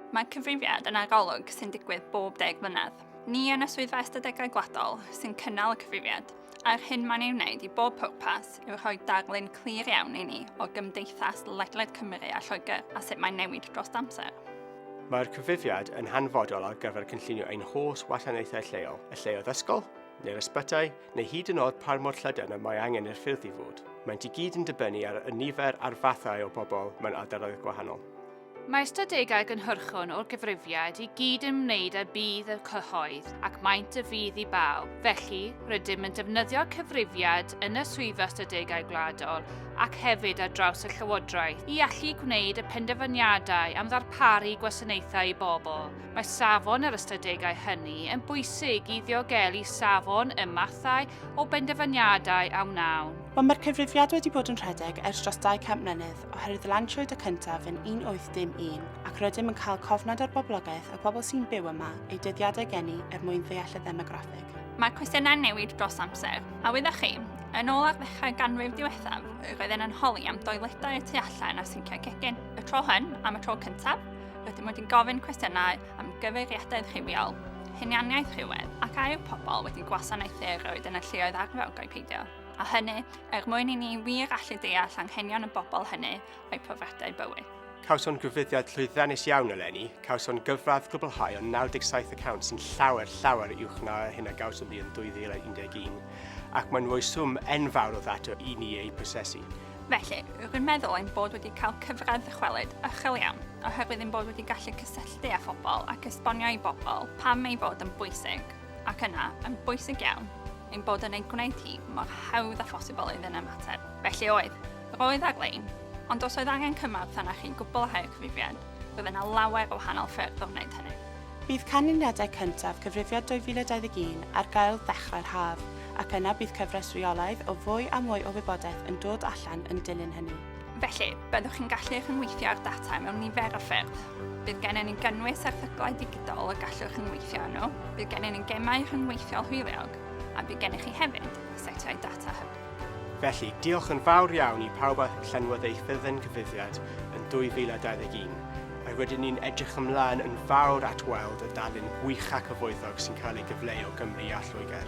Mae cyfrifiad yn arolwg sy'n digwydd bob deg mlynedd. Ni yn y Swyddfa Ystadegau Gwladol sy'n cynnal y cyfrifiad, a'r hyn mae'n ei wneud i bob pwrpas yw rhoi darlun clir iawn i ni o gymdeithas ledled Cymru a Lloegr a sut mae'n newid dros amser. Mae'r cyfrifiad yn hanfodol ar gyfer cynllunio ein holl wasanaethau lleol, y lleoedd ysgol, neu'r ysbytai, neu hyd yn oed pa mor llydan y mae angen i'r ffyrdd i fod. Mae'n i gyd yn dibynnu ar y nifer a'r fathau o bobl mewn ardaloedd gwahanol. Mae ystadegau gynhyrchon o'r gyfrifiad i gyd yn ymwneud â budd y cyhoedd ac maent y fudd i bawb. Felly, rydym yn defnyddio'r cyfrifiad yn y Swyddfa Ystadegau Gwladol ac hefyd ar draws y Llywodraeth i allu gwneud y penderfyniadau am ddarparu gwasanaethau i bobl, Mae safon yr ystadegau hynny yn bwysig i ddiogelu safon y mathau o benderfyniadau a wnawn. Ond mae'r cyfrifiad wedi bod yn rhedeg ers dros 200 mlynedd oherwydd lansiwyd y cyntaf yn 1801 ac rydym yn cael cofnod o'r boblogaeth y pobl sy'n byw yma eu dyddiadau geni er mwyn ddeall y ddemograffig. Mae cwestiynau'n newid dros amser, a wyddoch chi, yn ôl ar ddechrau ganrif diwethaf, roedden yn holi am doiledau y tu allan a sinciau cegin. Y tro hyn, am y tro cyntaf, Rydym wedi'n gofyn cwestiynau am gyfeiriadaeth rhywiol, hunianiaeth rhywedd ac a yw pobl wedi gwasanaethu erioed yn y lleoedd arferogau peidio, a hynny er mwyn i ni wir allu deall anghenion y bobl hynny a'i profiadau bywyd. Cawson grwfyddiad llwyddiannus iawn eleni, cawson gyfradd gwblhau o 97 y cawnt sy'n llawer, llawer uwch na hyn a gawson ni yn 2011, ac mae'n rhoi swm enfawr o ddata i ni eu prosesu. Felly, rwy'n meddwl ein bod wedi cael cyfradd ddychwelyd uchel iawn, oherwydd ein bod wedi gallu cysylltu â phobl ac esbonio i bobl pam ei fod yn bwysig, ac yna, yn bwysig iawn, ein bod yn ei gwneud hi mor hawdd â phosibl iddyn ymateb. Felly oedd, roedd ar-lein, ond os oedd angen cymorth arna chi'n gwbl a hau'r cyfrifiad, roedd yna lawer o wahanol ffyrdd o wneud hynny. Bydd canlyniadau cyntaf Cyfrifiad 2021 ar gael ddechrau'r haf, ac yna bydd cyfres reolaidd o fwy a mwy o wybodaeth yn dod allan yn dilyn hynny. Felly, byddwch chi'n gallu rhyngweithio â'r data mewn nifer o ffyrdd. Bydd gennym ni gynnwys erthyglau digidol y gallwch rhyngweithio â nhw, bydd gennym ni gemau rhyngweithiol hwyliog, a bydd gennych chi hefyd setiau data hyb. Felly, diolch yn fawr iawn i pawb a llenwodd eu ffurflen gyfrifiad yn 2021, a rydyn ni'n edrych ymlaen yn fawr at weld y darlun gwych a cyfoethog sy'n cael ei gyfleu o Gymru a Lloegr.